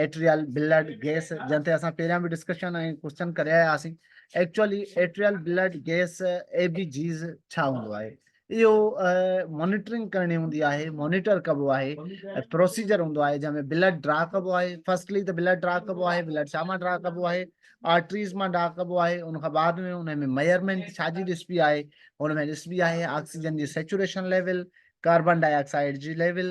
Arterial blood gas جنهن تي اسان پهريان به ڊسڪشن ۽ ڪوشچن ڪري آيا هئاسين actually arterial blood gas A B Gs ڇا هوندو آهي اهو مانيٽرنگ ڪرڻي هوندي آهي مانيٽر ڪبو آهي پروسيجر هوندو آهي جنهن ۾ بلڊ ڊرا ڪبو آهي فرسٽلي ته بلڊ ڊرا ڪبو آهي بلڊ ڇا مان ڊرا ڪبو آهي آرٽريز مان ڊرا ڪبو آهي ان کان بعد ۾ ان ۾ ميئرمينٽ ڇا جي ڏسبي آهي ان ۾ ڏسبي آهي آڪسيجن جي saturation level carbon dioxide جي ليول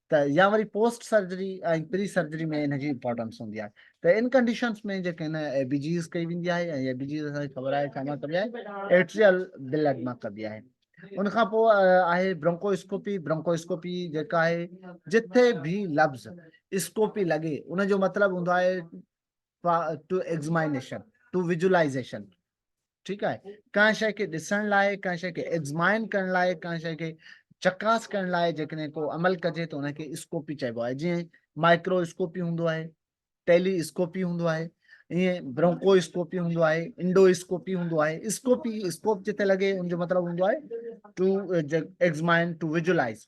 ته يا وري پوسٽ سرجري ۽ پري سرجري ۾ ان جي امپورٽنس هوندي آهي ته ان ڪنڊيشنس ۾ جيڪي هن اي بي جيز ڪئي ويندي آهي ۽ اي بي جيز اسان کي خبر آهي ڇا مان ڪبي آهي ايٽريل بلڊ مان ڪبي آهي ان کان پوء آهي برونڪو اسڪوپي برونڪو اسڪوپي جيڪا آهي جتي به لفظ اسڪوپي لڳي ان جو مطلب هوندو آهي ٽو ايگزمائنيشن ٽو ويجولائزيشن ٺيڪ آهي ڪنهن شيء کي ڏسڻ لاء ڪنهن شيء کي ايگزمائن ڪرڻ لاء ڪنهن شيء کي چڪاس ڪرڻ لاء جيڪڏهن ڪو عمل ڪجي ته ان کي اسڪوپي چئبو آهي جيئن مائڪرو اسڪوپي هوندو آهي ٽيلي اسڪوپي هوندو آهي ائين برونڪو اسڪوپي هوندو آهي انڊو اسڪوپي هوندو آهي اسڪوپي اسڪوپ جتي لڳي ان جو مطلب هوندو آهي to to to examine visualize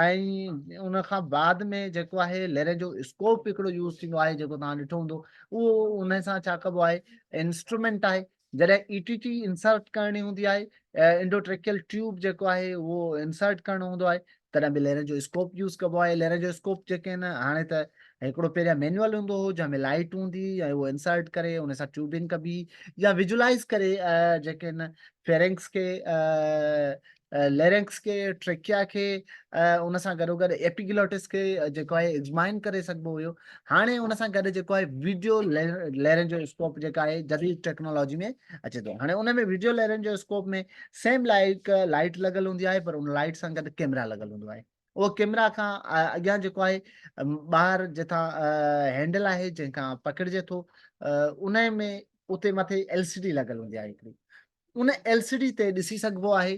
۽ ان کان بعد ۾ جيڪو آهي ليري جو اسڪوپ هڪڙو يوز ٿيندو آهي جيڪو توهان ڏٺو هوندو اهو ان سان ڇا ڪبو آهي انسٽرومينٽ آهي جڏهن اي ٽي ٽي انسرٽ ڪرڻي هوندي آهي انڊوٽريڪيل ٽيوب جيڪو آهي اهو انسرٽ ڪرڻو هوندو آهي تڏهن به ليري جو اسڪوپ يوز ڪبو آهي ليري جو اسڪوپ جيڪي آهن هاڻي ته هڪڙو پهريان مينوئل هوندو هو جنهن ۾ لائٽ هوندي هئي ۽ اهو انسرٽ ڪري ان سان ٽيوبنگ ڪبي يا ويجولائز ڪري جيڪي آهن فيرنگس کي ليرنڪس کي، ٽريڪيا کي ۽ ان سان گڏوگڏ ايپيگلوٽس کي جيڪو آهي ايگزمائن ڪري سگهبو هيو. هاڻي ان سان گڏ جيڪو آهي ويڊيو ليرنجواسڪوپ جيڪا آهي جديد ٽيڪنالاجي ۾ اچي ٿو. هاڻي ان ۾ video laryngoscope ۾ same like light لڳل هوندي آهي پر ان لائيٽ سان گڏ ڪيمرا لڳل هوندو آهي. اهو ڪيمرا کان اڳيان جيڪو آهي ٻاهر جتان هينڊل آهي جنهن کان پڪڙجي ٿو انهي ۾ اتي مٿي ايل سي ڊي لڳل هوندي آهي هڪڙي ان ايل سي ڊي تي ڏسي سگهبو آهي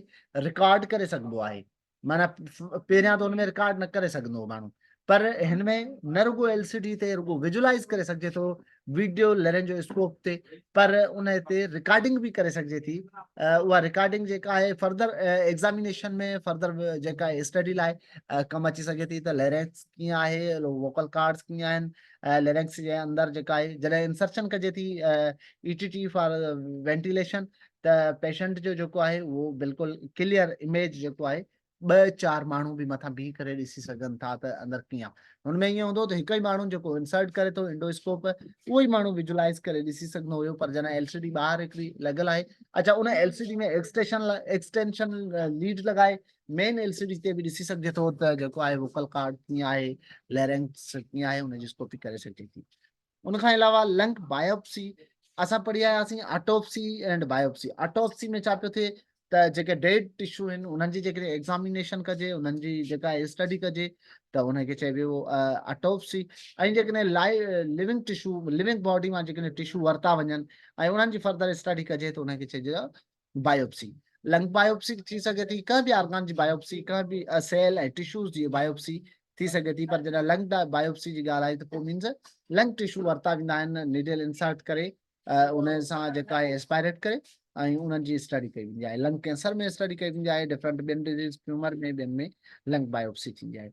رڪارڊ ڪري سگهبو آهي معنيٰ پهريان ته ان ۾ رڪارڊ نه ڪري سگهندو ماڻهو پر هن ۾ نه رڳو ايل سي ڊي تي رڳو ويجولائز ڪري سگهجي ٿو video laryngoscope پر ان تي رڪارڊنگ به ڪري سگهجي ٿي اها رڪارڊنگ جيڪا آهي فردر ايگزامينيشن ۾ فردر جيڪا اسٽڊي لاء ڪم اچي سگهي ٿي ته لرنس ڪيئن آهي ووڪل ڪارڊس ڪيئن آهن ليرنڪس جي اندر جيڪا آهي جڏهن انسرشن ڪجي ٿي E T T for ventilation ته پيشنٽ جو جيڪو آهي اهو بلڪل ڪليئر اميج جيڪو آهي ٻه چار ماڻهو به مٿان بيهي ڪري ڏسي سگهن ٿا ته اندر ڪيئن آهي هن ۾ ائين هوندو ته هڪ ئي ماڻهو جيڪو انسرٽ ڪري ٿو انڊوسڪوپ اهو ئي ماڻهو ويجولائز ڪري ڏسي سگهندو هيو پر جڏهن ايل سي ڊي ٻاهر هڪڙي لڳل آهي اچا ان L C D ۾ extension extension lead لڳائي مين ايل سي ڊي تي به ڏسي سگهجي ٿو ته جيڪو آهي ووڪل ڪارڊ ڪيئن آهي ليرنگس ڪيئن آهي ان جي اسڪوپي ڪري سگهجي ٿي ان کان علاوه لنگ بايوپسي اسان پڙهي آياسين آٽوپسي اينڊ بايوپسي آٽوپسي ۾ ڇا پيو ٿئي ته جيڪي ڊيڊ ٽشو آهن انهن جي جيڪڏهن ايگزامينيشن ڪجي انهن جي جيڪا اسٽڊي ڪجي ته ان کي چئبو آٽوپسي ۽ جيڪڏهن لائي لونگ ٽشو لونگ باڊي مان جيڪڏهن ٽشو ورتا وڃن ۽ انهن جي فردر اسٽڊي ڪجي ته ان کي چئجي بايوپسي، لنگ بايوپسي به ٿي سگهي ٿي، ڪنهن به آرگان جي بايوپسي، ڪنهن به سيل ۽ ٽشوز جي بايوپسي ٿي سگهي ٿي، پر جڏهن لنگ بايوپسي جي ڳالهه آئي ته پوء مينز لنگ ٽشو ورتا ويندا آهن، نيڊل انسرٽ ڪري ان سان جيڪا آهي اسپائريٽ ڪري ۽ انهن جي اسٽڊي ڪئي ويندي آهي، لنگ ڪينسر ۾ اسٽڊي ڪئي ويندي آهي، ڊفرنٽ ٻين ڊزيز ٽيومر ۾ ٻين ۾ لنگ بايوپسي ٿيندي آهي.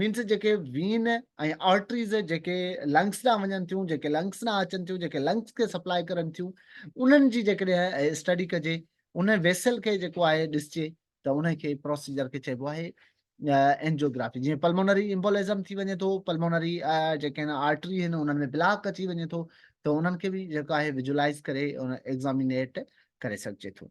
مينس جيڪي وين ۽ آرٽريز جيڪي لنگس ڏانهن وڃن ٿيون جيڪي لنگس ڏانهن اچن ٿيون جيڪي لنگس کي سپلاء ڪرن ٿيون انهن جي جيڪڏهن اسٽڊي ڪجي ان ويسل کي جيڪو آهي ڏسجي ته ان کي پروسيجر کي چئبو آهي اينجيوگرافي جيئن پلمونري امبولزم ٿي وڃي ٿو پلمونري جيڪي آهن آرٽري آهن انهن ۾ بلاڪ اچي وڃي ٿو ته انهن کي به جيڪو آهي وجولائز ڪري ايگزامينيٽ ڪري سگهجي ٿو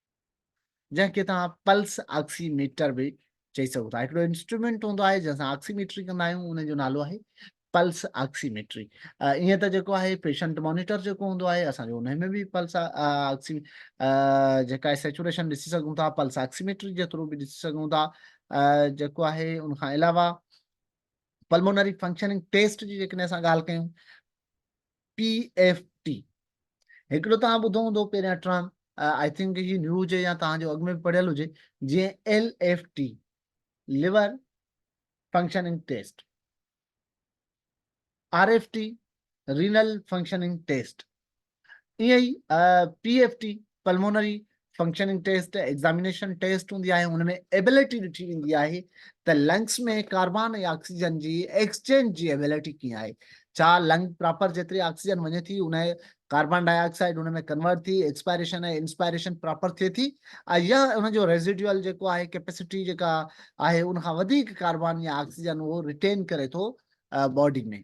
جنهن کي توهان پلس آڪسي ميٽر به چئي سگهو ٿا هڪڙو انسٽرومينٽ هوندو آهي جنهن سان آڪسي ميٽري ڪندا آهيون ان جو نالو آهي پلس آڪسي ميٽري ائين ته جيڪو آهي پيشنٽ مانيٽر جيڪو هوندو آهي اسان جو ان ۾ به پلس آڪسي جيڪا آهي سيچوريشن ڏسي سگهون ٿا پلس آڪسي ميٽري جي ٿرو به ڏسي سگهون ٿا جيڪو آهي ان کان علاوه پلمونري فنڪشننگ ٽيسٽ جي جيڪڏهن اسان ڳالهه ڪيون پي ايف ٽي هڪڙو توهان ٻڌو هوندو پهريان ٽرم آئي ٿنڪ هي نيو هجي يا توهان جو اڳ ۾ پڙهيل هجي جي L F T liver functioning test R F T renal functioning test ائين ئي P F T pulmonary functioning test examination test هوندي آهي ان ۾ ايبلٽي ڏٺي ويندي آهي ته لنگس ۾ ڪاربان ۽ آڪسيجن جي ايڪسچينج جي ايبلٽي ڪيئن آهي ڇا لنگ پراپر جيتري آڪسيجن وڃي ٿي ان ڪاربان ڊاء آڪسائيڊ ان ۾ ڪنورٽ ٿي ايڪسپائريشن ۽ انسپائريشن پراپر ٿئي ٿي يا ان جو ريزيڊيول جيڪو آهي ڪيپيسٽي جيڪا آهي ان کان وڌيڪ ڪاربان يا آڪسيجن اهو ريٽين ڪري ٿو باڊي ۾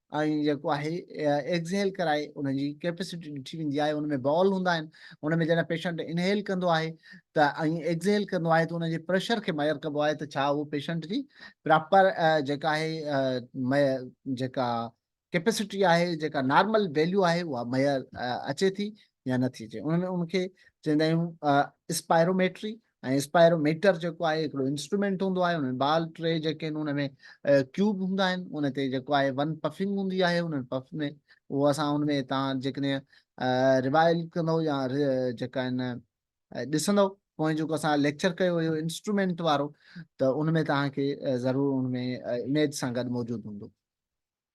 ۽ جيڪو آهي ايڪزهيل ڪرائي ان جي ڪيپيسٽي ڏٺي ويندي آهي ان ۾ بال هوندا آهن ان ۾ جڏهن پيشنٽ انهيل ڪندو آهي ته ۽ ايڪزهيل ڪندو آهي ته ان جي پريشر کي ميئر ڪبو آهي ته ڇا اهو پيشنٽ جي پراپر جيڪا آهي جيڪا ڪيپيسٽي آهي جيڪا نارمل ويليو آهي اها ميئر اچي ٿي يا نٿي اچي ان ۾ ان کي چوندا آهيون اسپائروميٽري ۽ اسپائرو ميٽر جيڪو آهي هڪڙو انسٽرومينٽ هوندو آهي ان ۾ بال ٽي جيڪي آهن ان ۾ ڪيوب هوندا آهن ان تي جيڪو آهي ون پفنگ هوندي آهي ان پف ۾ اهو اسان ان ۾ تان جيڪڏهن ريوائل ڪندو يا جيڪا آهن ڏسندو پوئين جيڪو اسان ليڪچر ڪيو هيو انسٽرومينٽ وارو ته ان ۾ تان کي ضرور ان ۾ اميج سان گڏ موجود هوندو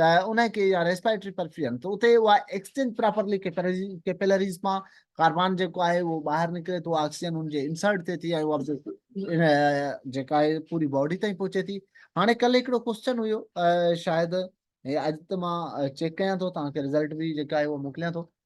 ته ان کي يا ريسپريٽري پرفيوم ته اتي اها ايڪسچينج پراپرلي ڪيپيلريز مان ڪاربان جيڪو آهي اهو ٻاهر نڪري ٿو آڪسيجن ان جي انسرٽ ٿئي ٿي ۽ اها جيڪا آهي پوري باڊي تائين پهچي ٿي هاڻي ڪل هڪڙو ڪوشچن هيو شايد اڄ ته مان چيڪ ڪيان ٿو توهان کي رزلٽ به جيڪا آهي اهو موڪليان ٿو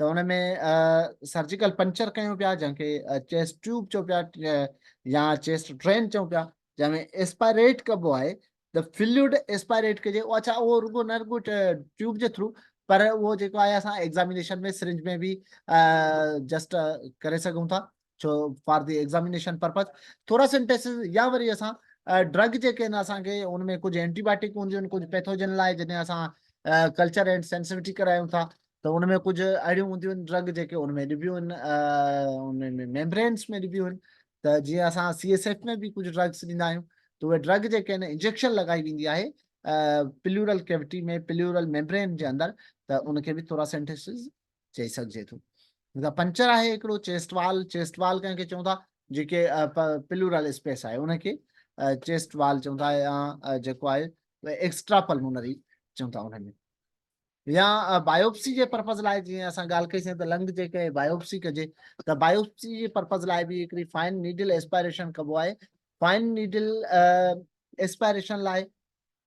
ته ان ۾ سرجيڪل پنچر ڪيون پيا جنهن کي چيسٽ ٽيوب چئون پيا يا چيسٽ ڊرين چئون پيا جنهن ۾ ايسپائريٽ ڪبو آهي ته فلوئڊ ايسپائريٽ ڪجي اهو اڇا اهو رڳو نه رڳو ٽيوب جي ٿرو پر اهو جيڪو آهي اسان ايگزامينيشن ۾ سرنج ۾ به جسٽ ڪري سگهون ٿا ڇو فار دي ايگزامينيشن پرپز ٿورا سنٽيسز يا وري اسان ڊرگ جيڪي آهن اسان کي ان ۾ ڪجهه اينٽي بايوٽڪ هونديون آهن ڪجهه پيٿوجن لاء جڏهن اسان ڪلچر اينڊ سينسويٽي ڪرايون ٿا ته ان ۾ ڪجهه اهڙيون هونديون آهن ڊرگ جيڪي ان ۾ ڏبيون آهن ان ۾ ميمبرينس ۾ ڏبيون آهن ته جيئن اسان سي ايس ايف ۾ به ڪجهه ڊرگس ڏيندا آهيون ته اهي ڊرگ جيڪي آهن انجيڪشن لڳائي ويندي آهي پليورل ڪيوٽي ۾ پليورل ميمبرين جي اندر ته ان کي به ٿورا سينٽيسز چئي سگهجي ٿو جيڪا پنچر آهي هڪڙو چيسٽ وال چيسٽ وال ڪنهن کي چون ٿا جيڪي پلورل اسپيس آهي ان کي چيسٽ وال چون ٿا يا جيڪو آهي ايڪسٽرا پلمونري چون ٿا ان ۾ يا بايوپسي جي پرپز لاء جيئن اسان ڳالهه ڪئيسين ته لنگ جي ڪنهن بايوپسي ڪجي ته بايوپسي جي پرپز لاء به هڪڙي فائن نيڊل اسپائريشن ڪبو آهي فائن نيڊل اسپائريشن لاء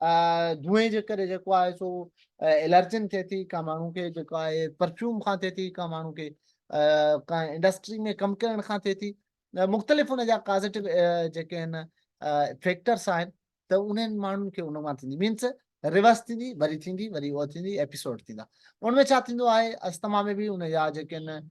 ڌوئين جي ڪري جيڪو آهي سو الرجين ٿئي ٿي ڪا ماڻهو کي جيڪو آهي پرفيوم کان ٿئي ٿي ڪا ماڻهو کي ڪا انڊسٽري ۾ ڪم ڪرڻ کان ٿئي ٿي مختلف ان جا ڪازيٽو جيڪي آهن فيڪٽرس آهن ته انهن ماڻهن کي ان مان ٿيندي مينس ريورس ٿيندي وري ٿيندي وري اهو ٿيندي ايپيسوڊ ٿيندا ان ۾ ڇا ٿيندو آهي استما ۾ به ان جا جيڪي آهن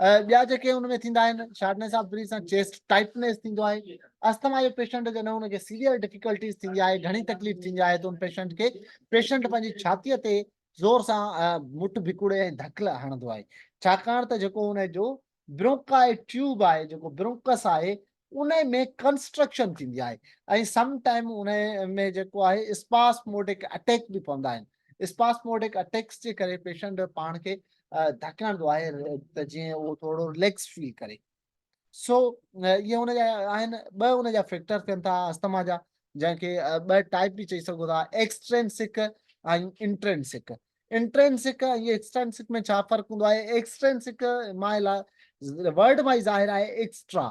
ٻيا جيڪي ان ۾ ٿيندا آهن شارٽنيس آف بريٿ سان چيسٽ ٽائٽنيس ٿيندو آهي اسٿما جو پيشنٽ جڏهن ان کي سيويئر ڊفيڪلٽيز ٿيندي آهي گهڻي تڪليف ٿيندي آهي ته ان پيشنٽ کي پيشنٽ پنهنجي ڇاتيء تي زور سان مٺ ڀڪوڙي ۽ ڌڪ هڻندو آهي ڇاڪاڻ ته جيڪو ان جو برونڪا ٽيوب آهي جيڪو برونڪس آهي انهي ۾ ڪنسٽرڪشن ٿيندي آهي ۽ سم ٽائيم انهي ۾ جيڪو آهي اسپاسموڊڪ اٽيڪ به پوندا آهن اسپاسموڊڪ اٽيڪس جي ڪري پيشنٽ پاڻ کي ڌڪ هڻندو آهي ته جيئن اهو ٿورو رليڪس فيل ڪري سو اهي ان جا آهن ٻه ان جا فيڪٽر ٿين ٿا استما جا جنهن کي ٻه ٽائيپ به چئي سگهو ٿا ايڪسٽرينسڪ ۽ انٽرينسڪ انٽرينسڪ ۽ ايڪسٽرينسڪ ۾ ڇا فرق هوندو آهي؟ ايڪسٽرينسڪ معنيٰ لاء ورڊ مان ئي ظاهر آهي ايڪسٽرا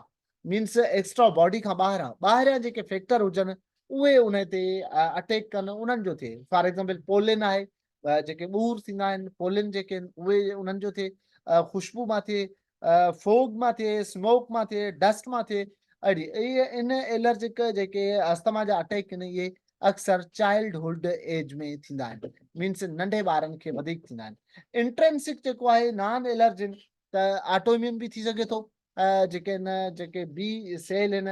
مينس ايڪسٽرا باڊي کان ٻاهران ٻاهريان جيڪي فيڪٽر هجن اهي ان تي اٽيڪ ڪن انهن جو ٿئي فار ايگزامپل پولين آهي جيڪي ٻور ٿيندا آهن پولين جيڪي آهن اهي انهن جو ٿئي خوشبو مان ٿئي فوگ مان ٿئي اسموڪ مان ٿئي ڊسٽ مان ٿئي اهڙي ان الرجڪ جيڪي استما جا اٽيڪ آهن اهي اڪثر چائلڊ هوڊ ايج ۾ ٿيندا آهن مينس ننڍي ٻارن کي وڌيڪ ٿيندا آهن انٽرنسڪ جيڪو آهي نان الرجن ته آٽوميون به ٿي سگهي ٿو جيڪي ان جيڪي بي سيل آهن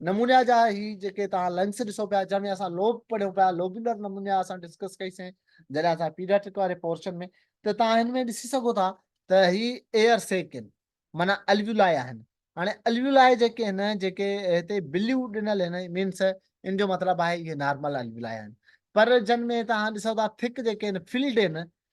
نمونيا جا هي جيڪي توهان لنگس ڏسو پيا جنهن ۾ اسان لوب پڙهيون پيا لوبيولر نمونيا اسان ڊسڪس ڪئي سين جڏهن اسان پيڊياٽرڪ واري پورشن ۾ ته توهان هن ۾ ڏسي سگهو ٿا ته هي ايئر سيڪ آهن معنيٰ الويولائي آهن هاڻي الويولائي جيڪي آهن جيڪي هتي بليو ڏنل آهن مينس ان جو مطلب آهي اهي نارمل الويولائي آهن پر جن ۾ توهان ڏسو ٿا ٿڪ جيڪي آهن فلڊ آهن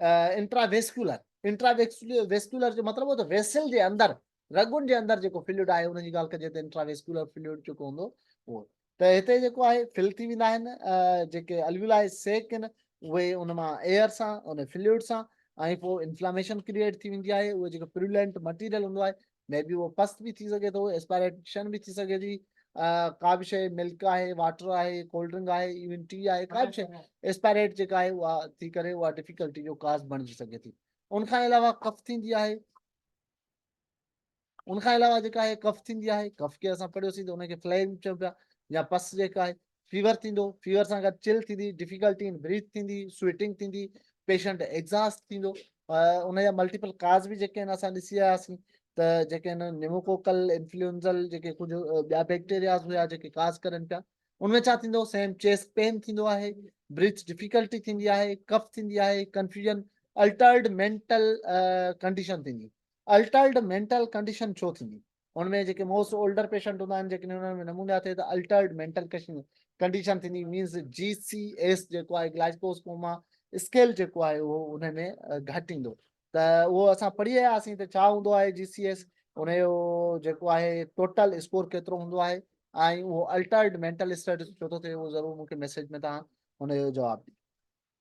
انٽرا ويسڪيولر انٽرا ويسڪيولر جو مطلب هو ته ويسل جي اندر رڳن جي اندر جيڪو فلوئڊ آهي ان جي ڳالهه ڪجي ته انٽرا ويسڪيولر فلوئڊ جيڪو هوندو اهو ته هتي جيڪو آهي فل ٿي ويندا آهن جيڪي الولا آهي سيڪ آهن اهي ان مان ايئر سان ان فلوئڊ سان ۽ پوء انفلاميشن ڪريئيٽ ٿي ويندي آهي اهو جيڪو پرولنٽ مٽيريل هوندو آهي مي بي اهو پست به ٿي سگهي ٿو اسپائريشن به ٿي سگهي ٿي ڪا به شيء ملڪ آهي واٽر آهي ڪولڊ ڊرنڪ آهي ايون ٽي آهي ڪا به شيء اسپائريٽ جيڪا آهي اها ٿي ڪري اها ڊفيڪلٽي جو ڪاز بڻجي سگهي ٿي ان کان علاوه ڪف ٿيندي آهي ان کان علاوه جيڪا آهي ڪف ٿيندي آهي ڪف کي اسان پڙهيوسين ته ان کي فليم چئون پيا يا پس جيڪا آهي فيور ٿيندو فيور سان گڏ چل ٿيندي ڊفيڪلٽي ان بريٿ ٿيندي سويٽنگ ٿيندي پيشنٽ ايگزاسٽ ٿيندو ان جا ملٽيپل ڪاز به جيڪي آهن اسان ڏسي آياسين ته جيڪي آهن نيموڪوڪل انفلوئنزل جيڪي ڪجهه ٻيا بيڪٽيرياز هيا جيڪي ڪاز ڪرن پيا ان ۾ ڇا ٿيندو سيم چيسٽ پين ٿيندو آهي بريٿ ڊفيڪلٽي ٿيندي آهي ڪف ٿيندي آهي ڪنفيوژن الٽرڊ مينٽل ڪنڊيشن ٿيندي الٽرڊ مينٽل ڪنڊيشن ڇو ٿيندي ان ۾ جيڪي موسٽ اولڊر پيشنٽ هوندا آهن جيڪڏهن انهن ۾ نمونيا ٿئي ته الٽرڊ مينٽل ڪنڊيشن ٿيندي مينز جي سي ايس جيڪو آهي گلائيڪوز ڪوما اسڪيل جيڪو آهي اهو ان ۾ گهٽ ايندو ته اهو اسان پڙهي آيا آسين ته ڇا هوندو آهي جي سي ايس ان جو جيڪو آهي ٽوٽل اسڪور ڪيترو هوندو آهي ۽ اهو الٽرڊ مينٽل اسٽيٽس ڇو ٿو ٿئي اهو ضرور مونکي ميسيج ۾ تان هن جو جواب ڏي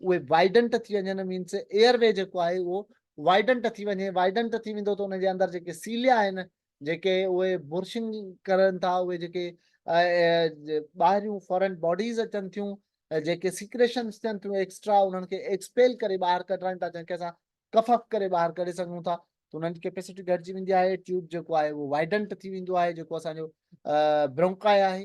اهي وائيڊنٽ ٿي وڃن مينس ايئر وي جيڪو آهي اهو وائيڊنٽ ٿي وڃي وائيڊنٽ ٿي ويندو ته ان جي اندر جيڪي سيليا آهن جيڪي اهي برشنگ ڪرن ٿا اهي جيڪي ٻاهريون فورن باڊيز اچن ٿيون جيڪي سيڪريشنس ٿين ٿيون ايڪسٽرا انهن کي ايڪسپيل ڪري ٻاهر ڪڍرائن ٿا جنهن کي اسان ڪفف ڪري ٻاهر ڪڍي سگهون ٿا ته انهن جي ڪيپيسٽي گهٽجي ويندي آهي ٽيوب جيڪو آهي اهو وائيڊنٽ ٿي ويندو آهي جيڪو اسانجو برونڪائي آهي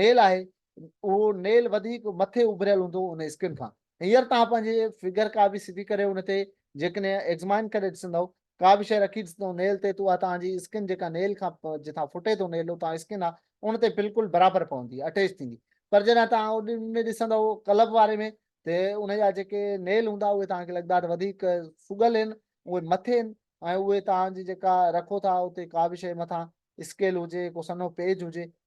نيل آهي اهو نيل وڌيڪ مٿي اڀريل هوندو ان اسڪن کان هينئر توهان پنهنجي فگر ڪا به سڌي ڪري ان تي جيڪڏهن ايگزمائن ڪري ڏسندؤ ڪا به شيء رکي ڏسندؤ نيل تي ته اها توهان جي اسڪن جيڪا نيل کان جتان ڦٽي ٿو نيل اتان اسڪن آهي ان تي بلڪل برابر پوندي اٽيچ ٿيندي پر جڏهن توهان ان ۾ ڏسندؤ ڪلب واري ۾ ته ان جا جيڪي نيل هوندا اهي توهان کي لڳندا ته وڌيڪ سڳل آهن اهي مٿي آهن ۽ اهي توهان جي جيڪا رکو ٿا اتي ڪا به شيء مٿان اسڪيل هجي ڪو سنهو پيج هجي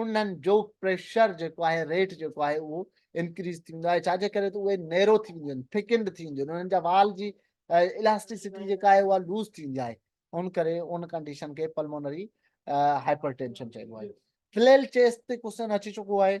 انهن جو پريشر جيڪو آهي ريٽ جيڪو آهي اهو انڪريز ٿيندو آهي ڇا جي ڪري ته اهي نيرو ٿي وينديون آهن ٿڪنڊ ٿي وينديون آهن انهن جا وال جي الاسٽيسٽي جيڪا آهي اها لوز ٿيندي آهي ان ڪري ان ڪنڊيشن کي پلمونري هائپر ٽينشن چئبو آهي فليل چيس تي ڪوسن اچي چڪو آهي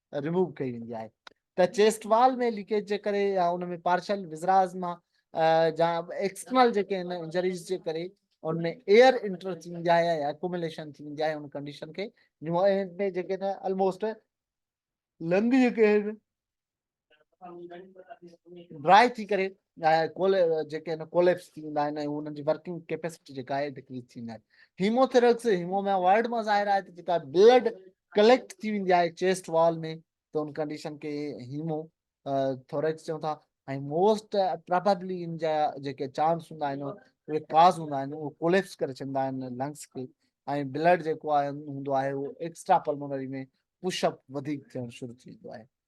ريموو ڪئي ويندي آهي ته چيسٽ وال ۾ ليڪيج جي ڪري يا ان ۾ پارشل وزراز مان جا ايڪسٽرنل جيڪي آهن انجريز جي ڪري ان ۾ ايئر انٽر ٿي ويندي آهي يا اڪوميليشن ٿي ويندي آهي ان ڪنڊيشن کي ان ۾ جيڪي نه آلموسٽ لنگ جيڪي آهن ڊرائي ٿي ڪري جيڪي آهن ڪوليپس ٿي ويندا آهن ۽ انهن جي ورڪنگ ڪيپيسٽي جيڪا آهي ڊڪريز ٿي ويندي آهي هيموٿيرڪس هيموما وارڊ مان ظاهر آهي ته جيڪا بلڊ ڪليڪٽ ٿي ويندي آهي چيسٽ وال ۾ ته ان ڪنڊيشن کي هيمو ٿوريڪس چون ٿا ۽ موسٽ پرابلي ان جا جيڪي چانس هوندا آهن اهي ڪاز هوندا آهن اهو ڪوليپس ڪري ڇڏيندا آهن لنگس کي ۽ بلڊ جيڪو آهي هوندو آهي اهو ايڪسٽرا پلمونري ۾ پش اپ وڌيڪ ٿيڻ شروع ٿي ويندو آهي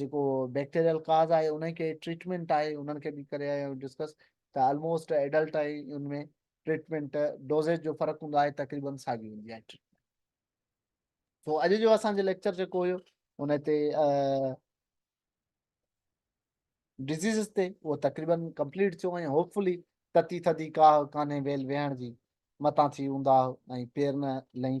جيڪو بيڪٽيريل ڪاز آهي انهي کي ٽريٽمينٽ آهي انهن کي به ڪري آيا آهيون ڊسڪس ته آلموسٽ ايڊلٽ ۽ ان ۾ ٽريٽمينٽ ڊوزيج جو فرق هوندو آهي تقريبن ساڳي هوندي آهي ٽريٽمينٽ سو اڄ جو اسان جو ليڪچر جيڪو هيو ان تي ڊزيزز تي اهو تقريبن ڪمپليٽ ٿيو ۽ هوپ فلي تتي ٿڌي ڪاهه ڪانهي ويل ويهڻ جي متان ٿي اونداهه ۽ پير نه لهين